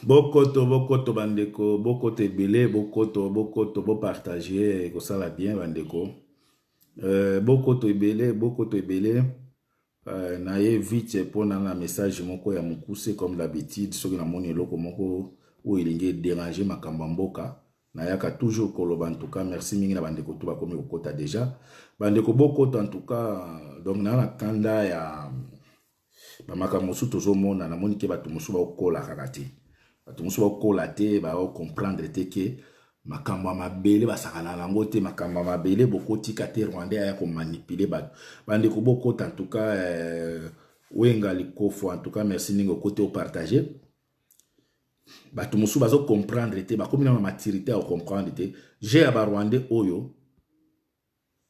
Bokoto bokoto ba ndeko bokoto ebele bokoto bokoto bo partage ekosala bien ba ndeko euh, bokoto ebele bokoto ebele euh, na ye vite mpo na na message moko ya mokuse comme d'habitude soki namoni eloko moko oyo elingi ederange makambo ya mboka nayaka toujours koloba antuka merci mingi na bandeko to bakomi kokota deja bandeko bokota antuka donc naa na kanda ya Ba makambo mosusu tozomona, namoni ke bato mosusu bakokola kaka te. Bato mosusu bakokola te, bakokomprendre te ke makambo ya mabele basakana na yango te, makambo ya mabele bokotika te Rwandais aya komanipule bato. Bandeko bokota en tout cas eh, Wenga Likofo en tout cas merci ndenge okoti opartage. Bato mosusu bazokomprendre te, bakomi na maturite ya kokomprendre te. Je ya ba Rwandais oyo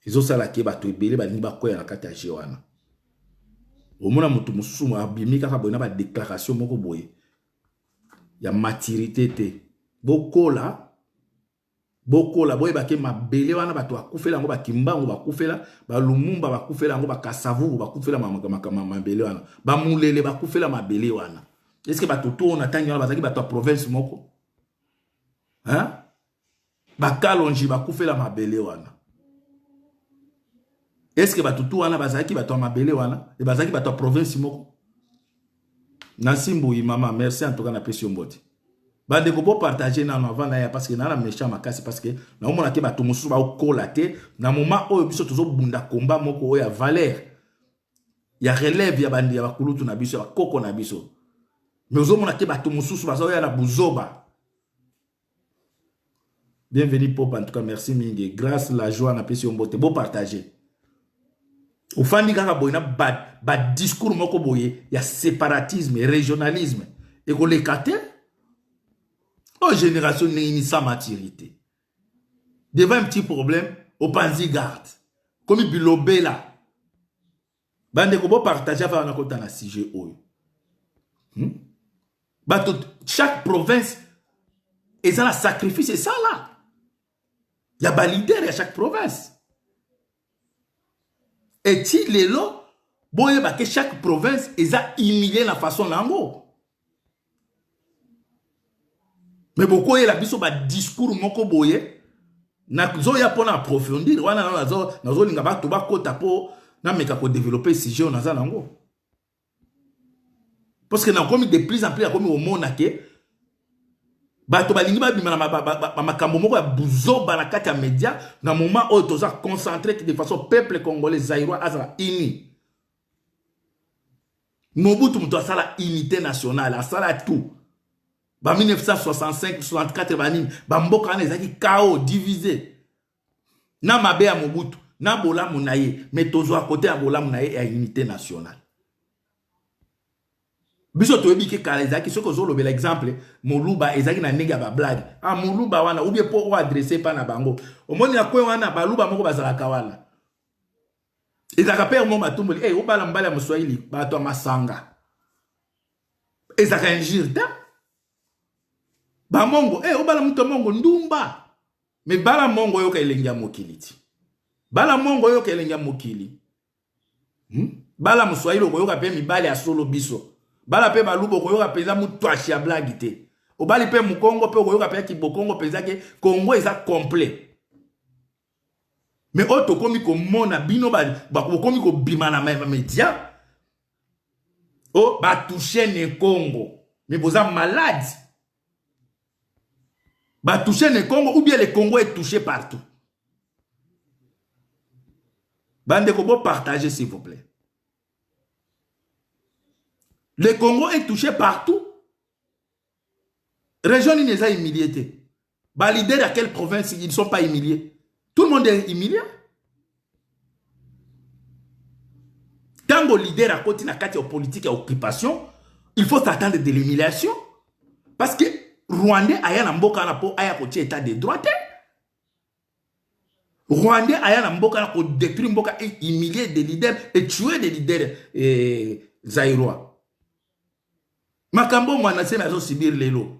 ezosala ke bato ebele balingi bakweya na kati ya jeu wana omona moto mosusu abimi kaka boye na badeklaration moko boye ya maturité te bokola bokola boyebake mabele wana bato bakufela yango bakimbangu bakufela balumumba bakufela yango bakasavuru bakufela mabele wana bamulele bakufela mabele wana eske bato to na ntangi wana bazalaki bato ya province moko bakalonji bakufela mabele wana eske bato tu wana bazalaki bato ya mabele wana e bazalaki bato ya province moko na nsimbuyi mama merci en tout cas napesi yo mbote bandeko bopartage nano avant naya parce que naa na méchant makasi parce que naomona te bato mosusu baokola te na moment oyo biso tozobunda komba moko oyo ya valeur ya relève ya bandi ya bakulutu na biso ya bakoko na biso mais ozomona te bato mosusu bazaoya na buzoba Bienvenue Pop, en tout cas merci mingi. Grâce la joie na pesi yo mbote. Bo partager. Ofandi kaka boye na ba, ba discours moko boye ya separatisme, régionalisme. Et ko lekate. Oh génération ni sa maturité. Devant un petit problème, opanzi garde. Comme bilobela. bandeko bo partage avant nakota na sujet oyo hmm? bato chaque province eza na sacrifice esala ya balider ya chaque province eti lelo boyeba ke chaque province eza humilie na façon na yango me bokoyela biso badiscours moko boye nazoya mpo na approfondir wana nazolinga bato bakota mpo nameka kodevelope sujet oyo naza nango parce que nakomi de plus en plus akomi komona ke bato balingi babima na makambo moko ya buzoba na kati ya media na moment oyo toza concentre de façon peuple congolais zairoi azala uni Mobutu moto asala unité nationale asala tout ba 1965 64 banini bamboka wana ezalaki kao divise na mabe ya mobutu na bolamu na ye me tozwa kote ya bolamu na ye ya unité nationale biso toyebi ke kala ezalaki soki ozolobela exemple moluba ezalaki na ndenge ya bablage a ah, moluba wana ubie mpo oadresse epa na bango omoni na kwe wana baluba moko bazalaka wana ezalaka père mo matumboli hey, eh, obala mobali ya moswahili bato ya masanga ezalaka injure te bamongo hey, eh, obala moto ya mongo ndumba me bala mongo oyoka elengi ya mokili ti bala mongo oyoka elengi ya mokili hmm? bala moswahili okoyoka mpe mibali ya solo biso bala mpe baluba okoyoka mpenza motwashi ya blagi te obali mpe mokongo mpe okoyoka mpe kibokongo mpenza ke kongo eza complet Mais oyo tokomi komona bino bokomi kobima na media o oh, batouche ne congo mais boza malade batouche ne congo ou bien le congo est touché partout bandeko bopartage s'il vous plaît le congo est touché partout région nini eza humilie te Ba leader ya quelle province ils ne sont pas humiliés? Tout le monde est humilié. Tango leader à côté na kati ya politique ya occupation, il faut s'attendre de l'humiliation parce que Rwandais aya na mboka na po aya ko état de droit te. Rwandais aya na mboka na ko détruire mboka et humilier des leaders et tuer des leaders eh, zairois. Makambo mwana sema azo subir lelo.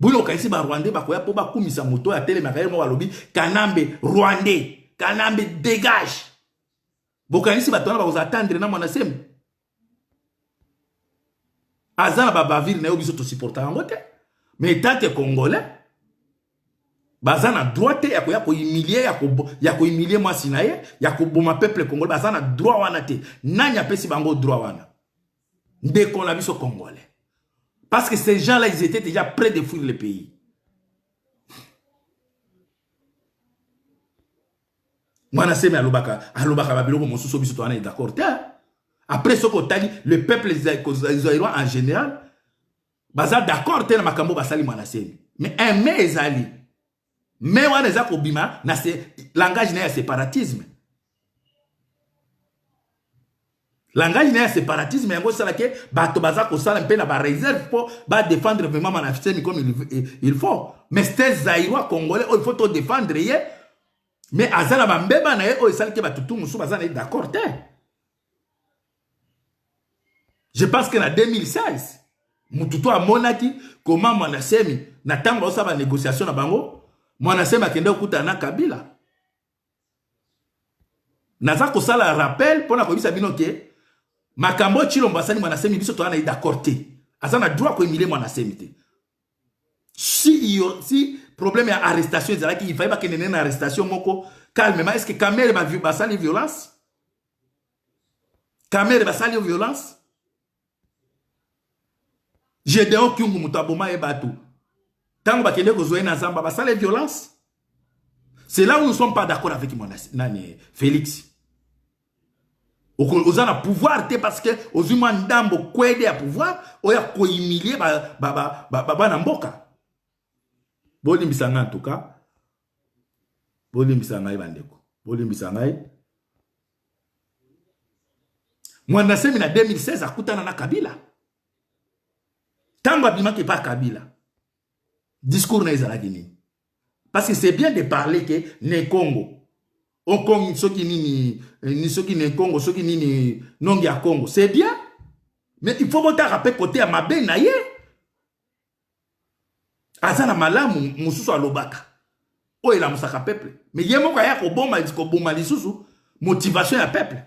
bino okaisi ba rwandais bakoya mpo bakumisa moto oyo atelemaka ye moko alobi kanambe rwandais kanambe degage bokanisi bato wana bakozala tandre na mwana semi aza na babavire na yo biso tosupporta yango te mais etanke congolais baza na droit te ya koya kohumilie ya kohumilie mwasi na ye ya koboma peuple congolais baza na droit wana te nani apesi bango droit wana ndeko na biso congolais parce que ces gens là ils étaient déjà près de fuir le pays mwana semi alobaka alobaka babiloko mosusu biso towana d'accord te après soki otali le peuple zaïrois en général baza d'accord te na makambo basali mwana semi mais aime ezali Mais wana eza kobima na se langage na ya separatisme. Langage na ya separatisme yango sala ke bato baza kosala mpe na ba réserve mpo ba défendre vraiment manafisemi comme il, il faut. Mais c'était zaïrois congolais oyo oh, il faut to défendre ye mais aza na bambeba na ye oyo esali ke bato tu mosusu baza na ye d'accord te. je pense que na 2016 mutu to amonaki koma mwana semi na ntango baosala ba négociation na bango mwana semi akende kokutana na kabila naza kosala rappel mpo na koyebisa bino ke makambo oyo cilombo asali mwana semi biso toza na ye d'accord te aza na droit koyimilie mwana semi te si, yo, si problème ya arrestation ezalaki ifai bakende nene na arrestation moko calmement est ce que kamere basali ba violence kamere basali yo violence gedeon kyungu moto aboma ye bato ntango bakende kozwa ye na zamba basala ye violence c'est là où nous sommes pas d'accord avec mon nani félix oza na pouvoir te parce que ozwi mwa ndambo kwede ya pouvoir oyo akohumilie bana mboka bolimbisa ngai en tout cas Bolimbisa ngai bandeko, bolimbisa ngai. Mwanda Nsemi na 2016 akutana na Kabila ntango abimaki epai Kabila, discours na ezalaki nini? Parce que c'est bien de parler que ne Congo okomi soki nini eh, ni soki ne Congo soki nini nongi ya Congo, c'est bien mais il faut botaka mpe kote ya mabe na ye aza na malamu mosusu alobaka oyo elamusaka peuple mais ye moko aya koboma koboma lisusu motivation ya peuple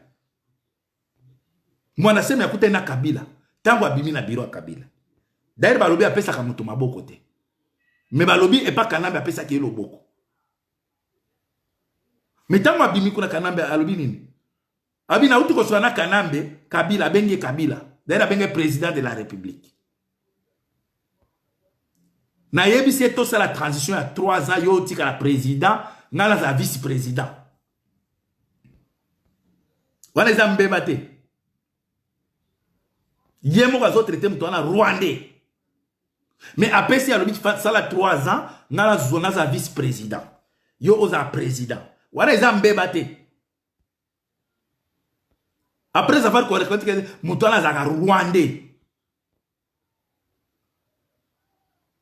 mwana semi akutani na kabila ntango abimi na biro ya kabila daire balobi apesaka moto maboko te me balobi epa kanambe apesaki ye loboko me ntango abimi kuna kanambe alobi nini abi nauti koswana na kanambe kabila abengi kabila daire abenge président de la république nayebisi ye tosala transition ya 3 ans yo otikala président ngai nazala vice président wana eza mbeba te ye moko azotraite moto wana rwandais mais apesi alobi sala 3 ans ngai nazwa nazala vice président yo ozala président wana eza mbeba te Après avoir correct, moto wana azalaka rwandais.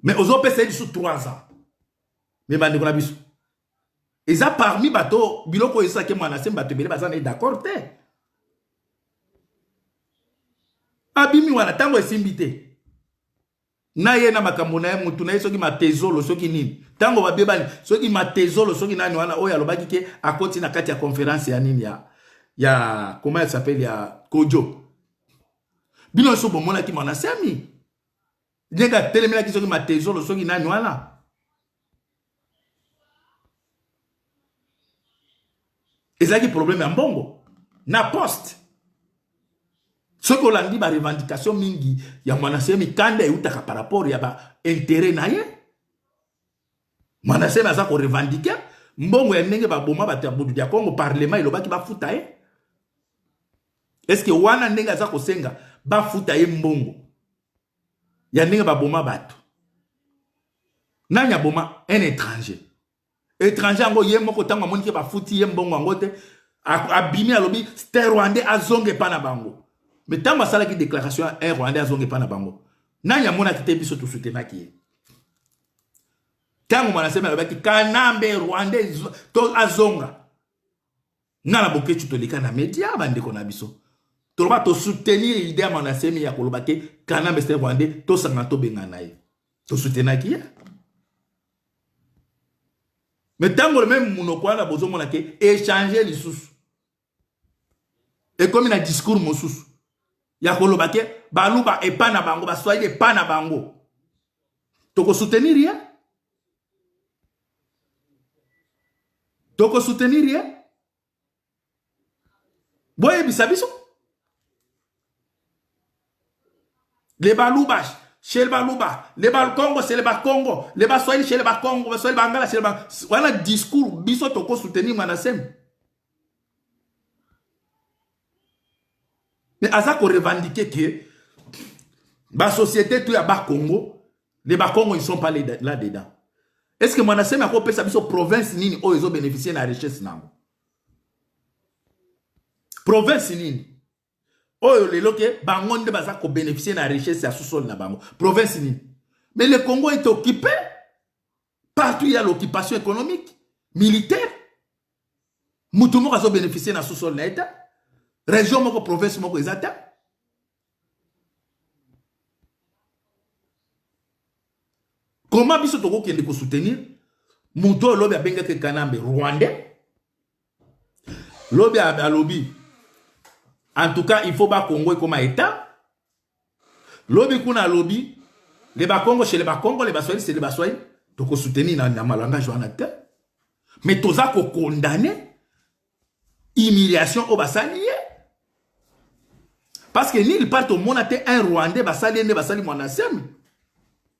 Mais ozopesa ye lisusu 3 ans. Mais bandeko na biso. Eza parmi bato biloko oyo esaki mwana se bato ebele baza na ye d'accord te. Abimi wana ntango esimbi te. na ye na makambo na ye mutu na ye soki matezolo soki nini ntango babebani soki matezolo soki nani wana oyo alobaki ke akoti na kati ya conference ya nini ya ya comment elle s'appelle ya kojo bino nyonso bomonaki mwana semi ndenge atelemelaki soki matezolo soki nani wana ezalaki problème ya mbongo na poste soki olandi ba revendication mingi ya mwanase mikanda eutaka par rapport ya ba intérêt na ye mwanase aza ko revendiquer mbongo ya ndenge baboma bato ya budu ya kongo parlement elobaki bafuta ye eske wana ndenge aza kosenga bafuta ye mbongo ya ndenge baboma bato nani aboma un étranger étranger yango ye moko ntango amoni ke bafuti ye mbongo yango te abimi alobi ste rwandais azonga epa na bango me ntango asalaki déclaration ya un rwandais azonga epa na bango nani amonaki te biso tosutenaki ye ntango manasemi alobaki kanambe rwandais to azonga nga na boketshu toleka na media bandeko na biso toloba tosoutenir idee ya manasemi ya koloba te kanambe se rwandais tosangana tobengana na ye tosoutenaki ye me ntango meme monoko wana bozomona ke echange lisusu ekomi na discours mosusu ya koloba ke baluba epa na bango baswahili epa na bango tokosoutenir ye toko soutenir ye boyebisa biso le baluba chez le baluba le bakongo chez le bakongo le baswahili chez le bakongo baswahili bangala chez le ba wana discours biso toko soutenir manasem mais aza ko revendiquer que ba société tout ya bakongo les bakongo ils sont pas là dedans est ce que mwana semi akopesa biso province nini oyo ezo bénéficier na richesse nango province nini oyo lelo ke bango nde baza kobénéficie na richesse ya sous-sol na bango province nini mais le congo est occupé partout ya l'occupation économique militaire moto moko azo bénéficier na sous-sol na ye te région moko province moko eza te comment biso tokokende kosoutenir moto oyo lobi abengaki kanambe rwandais lobi alobi en tout cas il faut bakongo ekoma etat Lobi kuna alobi le bakongo chez le bakongo le baswahili chez le baswahili toko soutenir na, na malangage wana te mais toza ko condamner humiliation oyo basali ye parce que nil part tomona te un rwandais basali ye nde basali mwana semi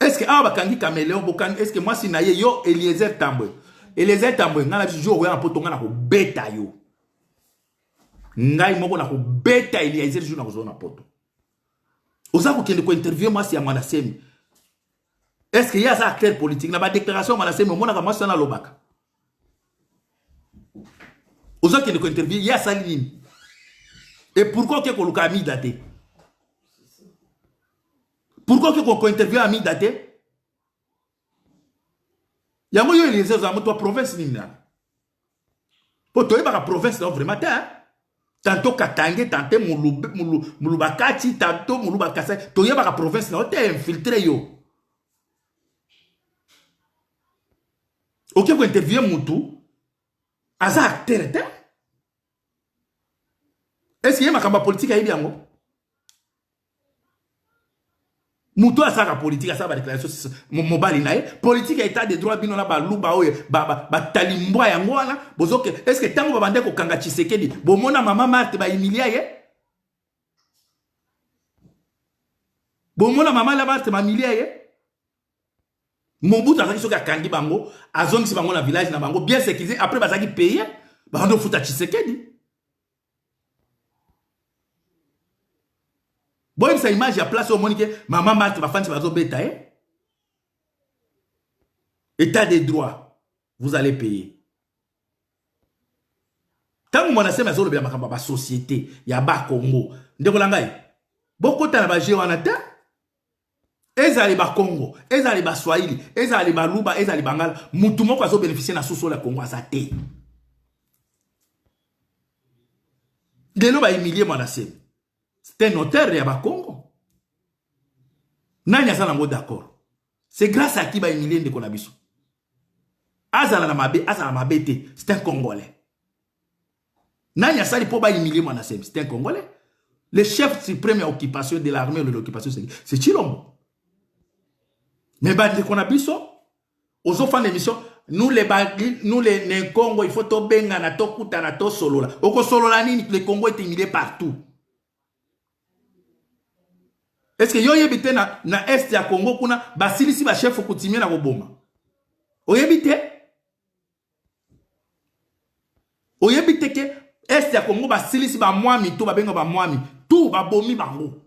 eske awa bakangi cameleon bokangi eske mwasi na ye yo eliezer tambwe eliezer tambwe ngai na biso jour okoya na poto ngai nakobeta yo ngai moko nakobeta eliezer jour nakozwa na poto oza kokende kointerviewe mwasi ya mwana semi eske ye aza acteur politique na badéclaration ya mwana semi omonaka mwasi wana alobaka oza kende ko interview ye asali nini et pourquoi oke koluka amida te pourquoi oke ko interview amida te yango yo eliezer oza moto ya province nini nani mpo toyebaka province nao vraiment te tanto katange tante mulubakati tanto mulubakasai toyebaka province nao te infiltre yo oke kointerviewe motu aza acteur te eske ye makambo ya politike ayebi yango moto oyo asalaka politike asala badéclaration mobali na ye politike ya état de droit bino na baluba oyo batalimbwa ba, ba yango wana bozoke eske ntango babandaki kokanga tshisekedi bomona mama marte baimilia ye bomona mama labarte bamilia ye mobutu azalaki soki akangi bango azongisi bango na village na bango bien sécurisé après bazalaki paye bakandi ofuta tshisekedi boyebisa image ya place oyo omoni ke mama marte bafandisi bazobeta ye etat de droit vous allez payer ntango mwana seme azolobela makambo ya basosiete ya bakongo ndeko na ngai bokota na baje wana te ezali bakongo ezali baswahili ezali baluba ezali bangala motu moko azobenefisie na sosolo ya kongo aza te lelo bahumilie mwana seme c'est un auteur ya bakongo nani aza nango d'accord c'est grâce à qui ba humilie ndeko na biso azala na mabe azala na mabe te c'est un congolais nani asali mpo ba humilie mwana semi c'est un congolais le chef suprême ya occupation de l'armée ou de l'occupation c'est chilombo mais bandeko na biso ozofanda émission nous les bagli nous les ne congo il faut tobengana tokutana tosolola okosolola nini le congo est humilié partout Est-ce que yo yebi te na, na est ya Congo kuna basilisi ba chef coutumier na koboma? Oyebi te? Oyebi te ke est ya Congo basilisi ba mwami to babenga ba mwami tout babomi bango.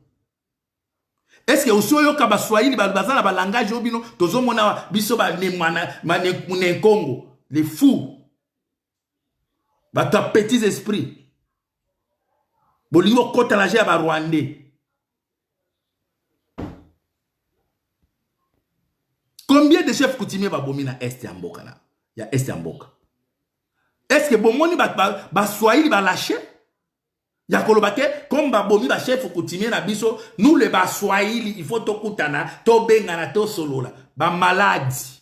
Est-ce que osi oyoka ba Swahili baza na ba langage oyo bino tozomona biso ba ne mwana ma ne Congo les fous bato ya petits esprit bolingi kokota na je ya barwandais combien de chef coutumier babomi na est ya mboka na ya est ya mboka estce bomoni baswahili ba, ba balache ya koloba te comme babomi bachef coutumier na biso nous le baswahili il faut tokutana tobengana tosolola bamaladi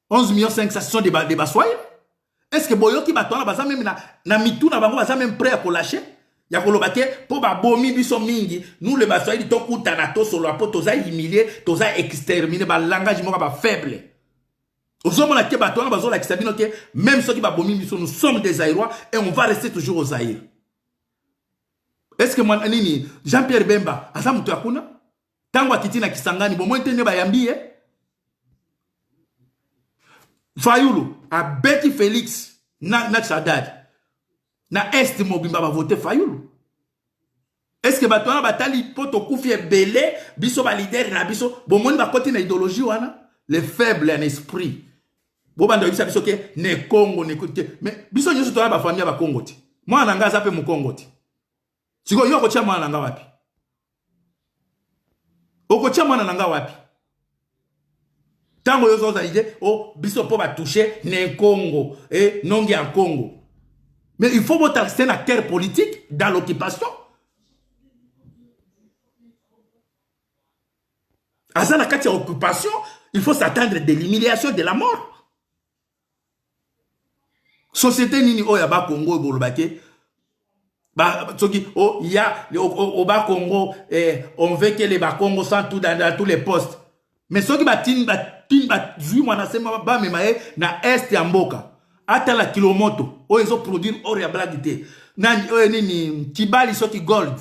11 millions 500 ce sont des, ba, des baswahili est ce que boyoki bato wana baza meme na, na mitu na bango baza meme prêt ya kolache ya koloba te mpo babomi biso mingi nous le baswahili tokutana tosolola mpo toza humilie toza extermine balangage moko bafaible ozomona te bato wana bazolakisa bino te meme soki babomi biso nous sommes des airois et on va rester toujours aux aire est ce que mwana nini jean pierre bemba aza moto ya kuna ntango akiti na kisangani bomoi te nde bayambi ye fayulu abeti felix na, na chadad na est mobimba bavote fayulu eske bato wana batali mpo tokufi ebele biso balidere na biso bomoni bakoti na idéologie wana le faible en esprit bobanda oyebisa biso ke ne kongo ne te mais biso nyonso toya bafamille ya bakongo te mwana na ngai aza mpe mokongo te sikoyo yo okotya mwana na nga wapi okotya mwana na nga wapi ntango yo ozoza ide o oh, biso mpo batouche na nkongo e eh, nongi ya nkongo mais il faut botaliste na terre politique dans l'occupation aza na kati ya occupation il faut s'attendre de l'humiliation de la mort société nini oyo ya ba Congo oyo boloba ke ba soki o oh, ya o, o, o ba Congo eh, on veut que les ba Congo sans tout dans, dans tous les postes mais soki batini batini bazwi mwana sema bamema ye na est ya mboka atala kilomoto oyo ezo produire or ya blague te na oyo eh, nini kibali soki gold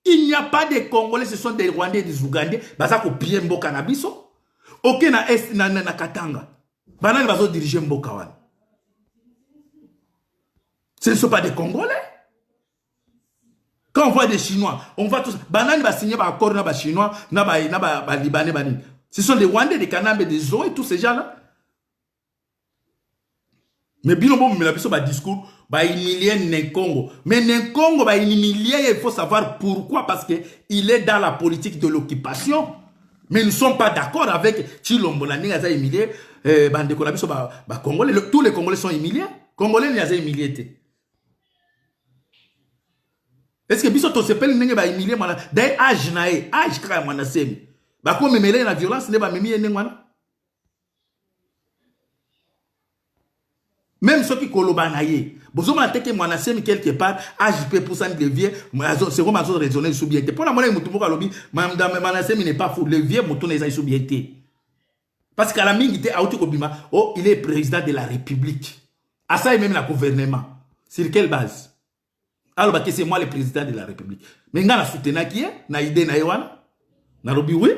Il n'y a pas de Congolais, ce sont des Rwandais et des Ougandais. Baza ko piller mboka na biso. Ok na est na, na, na Katanga. Banani bazo diriger mboka wana. Ce ne sont pas des Congolais. Quand on voit des Chinois, on voit tous. Banani va signer par accord na ba Chinois, na ba na ba, ba Libanais banani. Ce sont des Rwandais, des Kanambes, des Zoé, tous ces gens-là. Mais bino bo mela biso ba discours ba humilier Nenkongo. Mais Nenkongo ba humilier il faut savoir pourquoi parce que il est dans la politique de l'occupation. Mais nous sommes pas d'accord avec Chilombo na ndenge aza humilier euh, bandeko na biso ba, ba Congolais. Le, tous les Congolais sont humiliés. Congolais ni aza humilier te. Est-ce que biso to sepeli ndenge ba humilier mwana dai âge na ye âge kaka ya mwana semi. Bakomemela ye na violence nde bamemi ye ndenge wana. meme soki koloba na ye bozomona te ke mwana semi quelque part age mpe epusani le vieux sekom azo raisonne lisusu bien te mpo namonaki motu moko alobi madame mwana semi n'est pas fou le vieux motuna eza lisusu bien te parce kala mingi te auti kobima oh il est président de la république asali meme na gouvernement sur quelle base aloba ke c'est moi le président de la république me ngai na soutenaki ye na idée na ye wana nalobi oui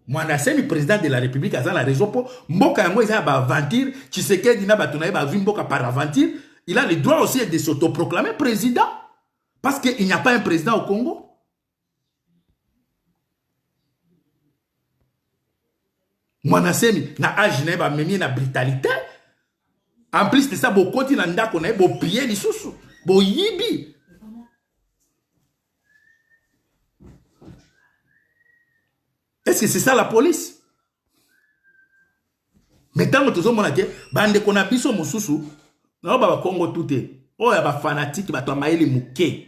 mwana asemi président de la république aza na raison mpo mboka yango eza ya baaventure tshisekedi na bato na ye bazwi mboka par aventure il a le droit aussi de s'autoproclamer président parce que il n'y a pas un président au congo mwana semi na age na ye bamemi ye na brutalité en plus de ça bokoti na ndako na ye bopie lisusu boyibi est ce que c'est ça la police me ntango tozomona te bandeko na biso mosusu naoba bakongo tu te oyo ya bafanatike bato ya mayele moke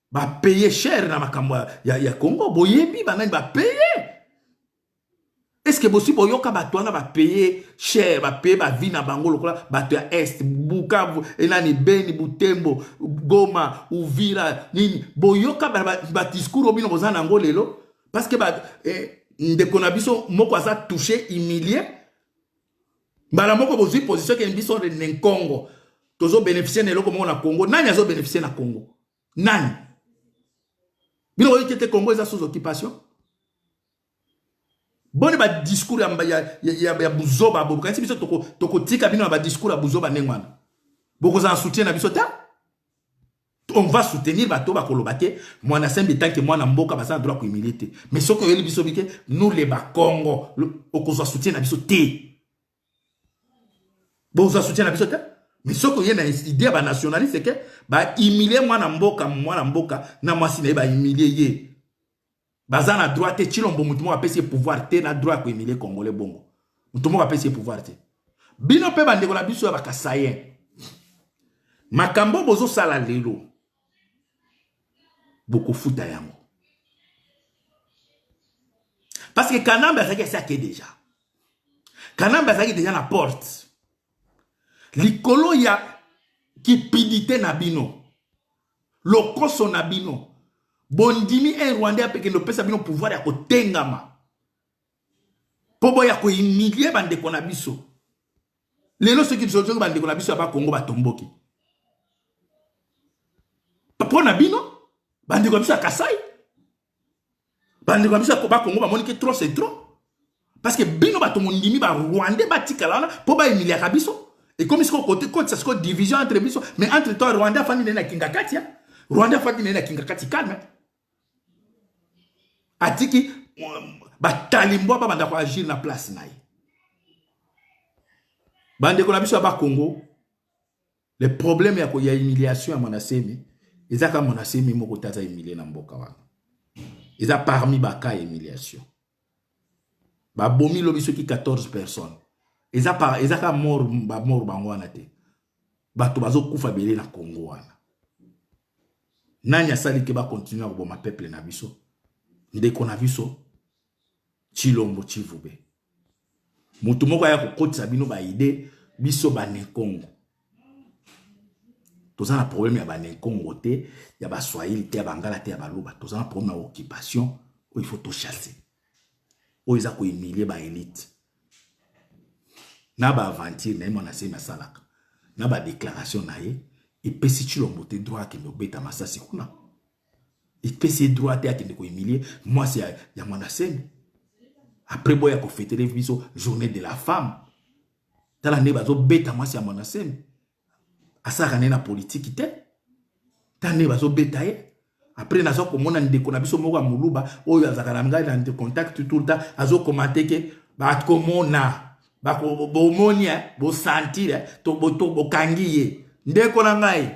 ba paye cher na makambo ya, ya congo boyebi banani ba paye eske bosi boyoka bato wana bapaye cher bapaye bavi na bango lokola bato ya est bukavu enani beni butembo goma uvira nini boyoka badiscours oyo bino boza na yango lelo parceke eh, ndeko na biso moko aza touche humilie mbala moko bozwi position ke biso ne nkongo tozo beneficie na eloko moko na congo nani azo beneficie na congo nani bino oyoki ete congo eza sous occupation boni badiscours ya, ya, ya, ya buzoba bokanisi biso tokotika toko bino na badiscours ya buzoba ndenge wana bokozala soutien na biso te on va soutenir bato bakoloba te mwana sembe tanke mwana mboka baza na droit kohumilie te mais soki oyeli biso bike nous le bakongo okozwa soutien na biso te bozwa soutien na biso te mais soki oye na idée ya banationaliste ke bahumilie mwana mboka mwana mboka na mwasi na ye bahumilie ye baza na droit te chilombo motu moko apesi ye pouvoir te na droit ya koemilie congolais bongo motu moko apesi ye pouvoir te bino mpe bandeko na biso ya bakasayen makambo bozosala lelo bokofuta yango parce que kanambe azalaki asi ake deja kanambe azalaki deja na porte likolo ya kipidite na bino lokoso na bino bondimi un rwandais apekende opesa bino pouvoir ya kotengama mpo boya kohumilie bandeko na biso lelo soki soki bandeko na biso ya bakongo batomboki mpo na bino bandeko ya biso ya kasai bandeko na biso ya koba kongo bamoni ke trop c'est trop parce que bino bato mondimi ba rwandais batikala wana mpo baemiliaka biso ekomi sikoyo kote kotisa sikoyo division entre biso mais entre toi rwandais afandi naye na kingakati ya rwandais afandi naye na kingakati calme atiki batalimbwa babanda koagir na place na ye bandeko na biso ya bakongo Le problème ya ko ya humiliation ya mwana semi eza ka mwana semi moko taza humilie na mboka wana. Eza parmi ba cas humiliation. Ba bomi lobi soki 14 personnes. Eza par eza ka mort ba mort bango wana te. Bato bazo kufa belé na Congo wana. Nani asali ke ba continuer ko boma peuple na biso? Ndeko na biso Tshilombo Tshivube. Moto moko aya kokotisa bino ba idee biso bane Congo. Toza na problème ya bane Congo te, ya ba Swahili te, ya Bangala te, ya Baluba. Toza na problème ya occupation oyo il faut to chasser. Oyo eza ko humilier ba elite. Na ba aventure na ye mwana semi asalaka. Na ba déclaration na ye epesi Tshilombo te droit akende obeta masasi kuna. epesi ye droit te akende kohumilie mwasi ya, ya mwana semi après boya kofetele biso journée de la femme tala nde bazobeta mwasi ya mwana semi asalaka nde na politiki te tala nde bazobeta ye après naza komona ndeko na biso moko ya moluba oyo azalaka na ngai na contact tout le temps azokomante ke bakomona bomoni eh, bosantire eh, bokangi ye ndeko na ngai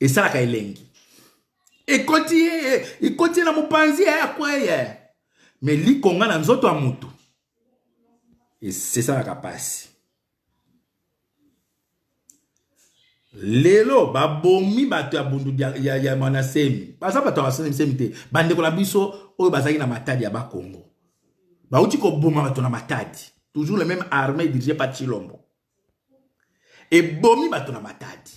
esalaka elengi ekoti ye ekoti ye na mopanzi ye akweye me likonga na nzoto ya motu esalaka mpasi lelo babomi bato ya bundu ya, ya manasemi baza bato ya basemsemi te bandeko na biso oyo bazalaki na matadi ya bakongo bauti koboma bato na matadi toujours le même armée dirigé par chilombo ebomi bato na matadi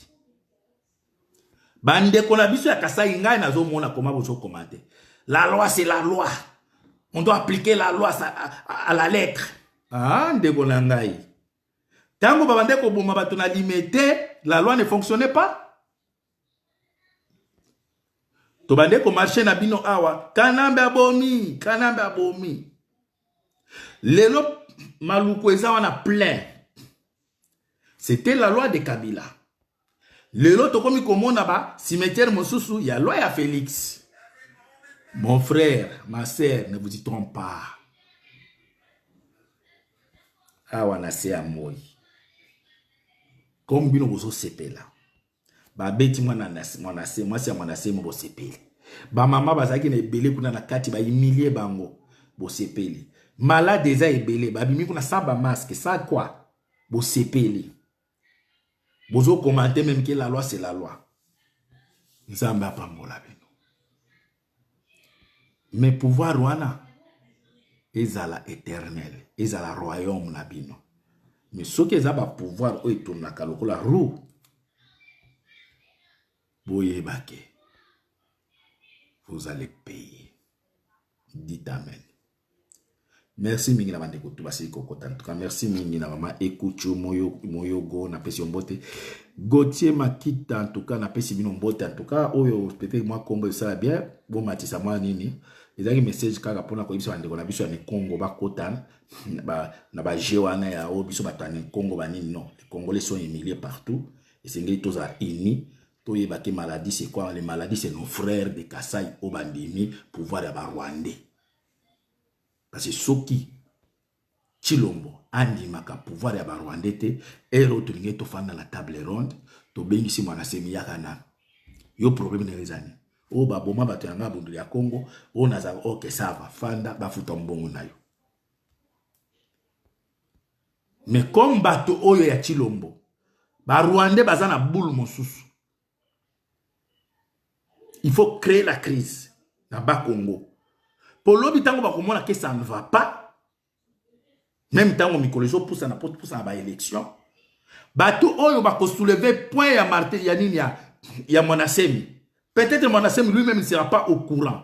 bandeko na biso ya kasai ngai nazomona koma bozokoma te la loi c'est la loi on doit appliquer la loi à la lettre ah ndeko na ngai ntango babande koboma bato na limete la loi ne fonctionnait pas tobande komarche na bino awa kanambe abomi kanambe abomi lelo maluku eza wana plein c'était la loi de kabila lelo tokomi komona ba cimetière mosusu ya loi ya felix mon frère ma sœur ne vous y trompe pas awa na se ya moi comme bino bozosepela babeti mwana mwanase mwasi ya mwanase mo bosepeli bamama bazalaki na ebele kuna na kati baimilie bango bosepeli malade eza ebele babimi kuna sa bamaske sa kwa bosepeli bozokomante meme ke la loi se la loi nzambe apambola bino Mais pouvoir wana ezala eternel, ezala royaume na bino. Mais soki eza ba pouvoir oyo etonnaka lokola roue, boyeba ke vous allez payer. Dites amen. Merci mingi na ba ndeko tout basili ko kota en tout cas merci mingi na maman Ekucho moyo moyogo na pesi mbote Gauthier Makita en tout cas na pesi bino mbote en tout cas oyo peut-être moi Congo esala bien bo matisa moi nini ezalaki message kaka mpona koyebisa bandeko na biso ya mikongo bakota na baje wana ya oyo biso bato ya mikongo banini non les congolais sont humiliés partout esengeli tozala unis toyeba ke maladie c'est quoi les maladies c'est nos frères de kasai oyo bandimi pouvoir ya barwandais Parce que soki Tshilombo andimaka pouvoir ya ba Rwandais te, heure oyo tolingi tofanda na table ronde, tobengisi mwana semi yaka nanu. Yo problème na yo eza nini? Oyo baboma bato ya ngai bunduli ya Congo, oyo naza ok ça va, fanda bafuta mbongo na yo. Mais comme bato oyo ya Tshilombo, ba Rwandais baza na boule mosusu. il faut créer la crise na ba Congo po lobi tango bakomona ke ça ne va pas meme tango mikolo ezopusana po topusana ba élection bato oyo bakosouleve point ya marte ya nini ya, ya mwanasemi peut-être mwanasemi lui-même ne sera pas au courant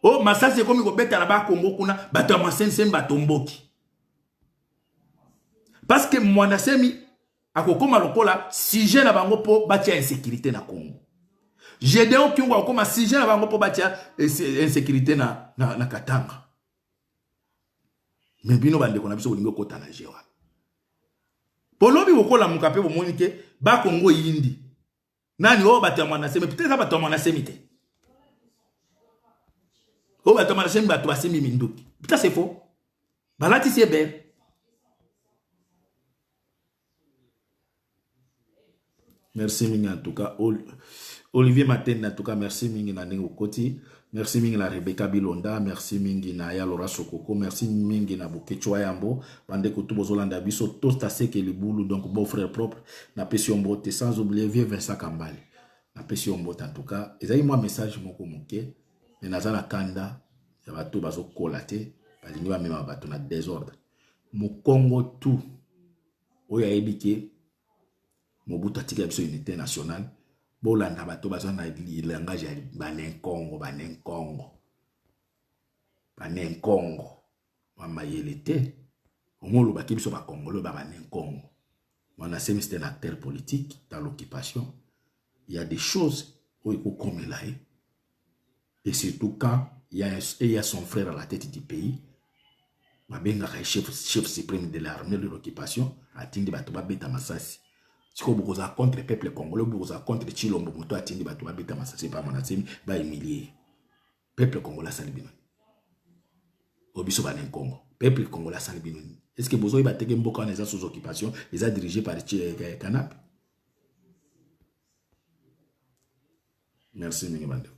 o oh, masasi ekomi kobeta na bakongo kuna bato ya mwanasemi batomboki parce que mwanasemi akokoma lokola sujet na bango mpo batia insécurité na Congo Gedeon Kiongo akokoma sujet na bango mpo batia insécurité na, na, na Katanga me bino bandeko na biso bolingi okota na jewa bolobi bokolamuka mpe bomoni te bakongo eyindi nani oyo oh, bato ya mwana semi peut-être eza bato ya mwana semi te oyo oh, bato ya mwana semi bato basemi minduki peut-être c'est faux balatisi ebele merci mingi en tout cas olivier matene en tout cas merci mingi na ndenge okoti Merci mingi na Rebecca Bilonda, merci mingi na ya Laura Sokoko, merci mingi na Bokechwa Yambo, bande kutu bozolanda biso tosta seke libulu donc beau frère propre na pesi yo mbote sans oublier vieux Vincent Kambale. Na pesi yo mbote en tout cas, ezali mwa message moko moke mais naza na kanda ya bato bazokola te balingi bamema bato na desordre. Mokongo tout oyo ayebi ke Mobutu atikela biso unite nationale bolanda bato baza na langage ya banenkongo banenkongo banenkongo bamayele te ongo olobaki biso bakongole ba banenkongo wana semi c'est un acteur politique dans l'occupation il y a des choses oyo ekokomela ye et surtout quand il y a, il y a son frère à la tête du pays babengaka chef, chef supreme de l'armée de l'occupation atindi bato babeta masasi sikoyo bokozala contre peuple congolais bokozala contre chilombo moto atindi bato babeta masasi pa manasemi bahumilie peuple congolais asali bino o biso banenkongo peuple congolais asali bino nini est ce que bozoyeba teke mboka wana eza sous occupation eza dirige par eh, eh, canap Merci mingi bandeko.